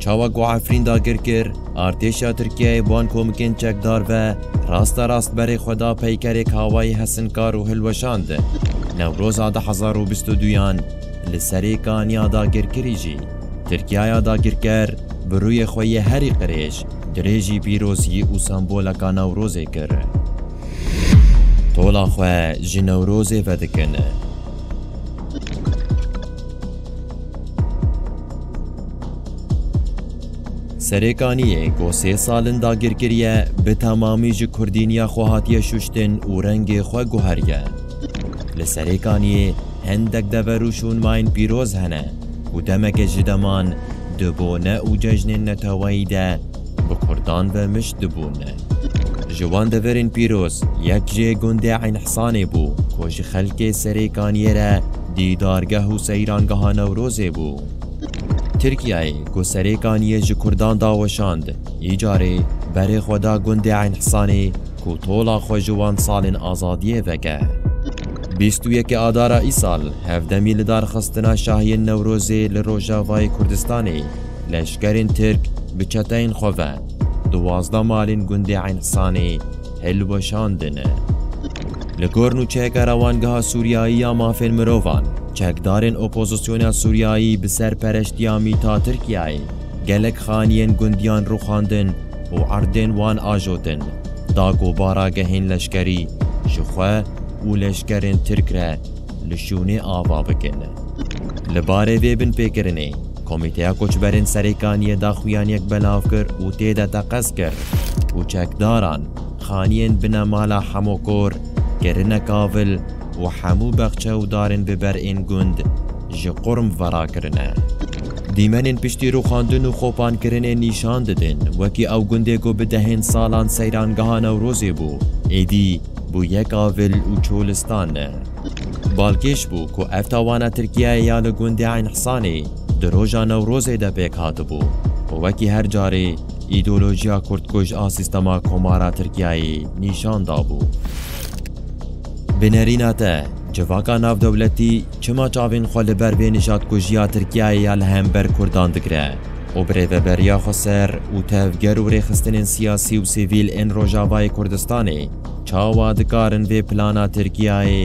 Çawa ku Efrîn dagir kir, artêşa Tirkiyeyê van komikên çekdar ve rasta rast berê xwe da peykerê kawayî hesinkar û hilweşand. Newroza du hezar û bîst û duyan li serê kaniya dagirkirî jî Tirkiyaya dagirker bi rûyê xwe yê herî qirêj dirêjî pîrozî û semboleka Newrozê kir. Tola xwe ji Newrozê vedikin. Serêkaniyê ku sê sal in dagir kiriye bi temamî ji kurdîniya xwe hatiye şuştin û rengê xwe guheriye. Li Serêkaniyê hendek dever û şûnmayên pîroz hene ku demeke ji deman di bone û cejnên neteweyî de bi Kurdan ve mişt dibûn. Ji wan deverên pîroz yek jê gundê Eynhsanê bû ku ji xelkê serê kaniyê re dîdargeh û seyrangeha Newrozê bû. Tirkiyeyê ku serê kaniyê ji Kurdan da weşand, îcarê berê xwe da gundê Eynhsanê ku tola xwe ji wan salên azadiyê veke. Bîst û yekê Adara îsal hevdemî lidarxistina şahiyên Newrozê li Rojavayê Kurdistanê Leşkerên Tirk bi çeteyên xwe ve duwazdeh malên gundê Eyn Sanê hilweşandin. Li gor nûçeyeke rewangeha Sûriyayî ya mafên mirovan, çekdarên opozisyona Sûriyayî bi serpereştiya mîta Tirkiyeyê gelek xaniyên gundiyan rûxandin û erdên wan ajotin, da ku baragehên leşkerî ji xwe û leşkerên Tirk re Li şûnê ava bikin. Li barê vê binpêkirinê, Komîteya Koçberên Serêkaniyê daxuyaniyek belav kir û tê de teqez kir ku çekdaran xaniyên bina mala hemû kor kirine kavil û hemû bexçe û darên bi ber ên gund ji qurm ve rakirine. Dîmenên piştî rûxandin û xopankirinê nîşan didin wekî ew gundê ku bi dehên salan seyrangeha Newrozê bû, êdî Bû yek avil û çolistan ne. Balkêş bû ku ev tawana Tirkiyeyê ya li gundê Eyn Hisanê di roja Newrozê de pêk hatibû û wekî her carê îdeolojiya kurdkuj a sîstema komara Tirkiyeyê nîşan dabû. Bi nerîna te, civaka navdewletî çima çavên xwe li ber vê nijadkujiya Tirkiyeyê ya li hember kurdan digire? û bi rêveberiya xwe ser û tevger û rêxistinên siyasî û sivîl ên Rojavayê Kurdistanê çawa dikarin vê plana Tirkiyeyê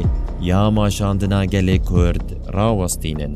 ya maşandina gelê Kurd rawestînin.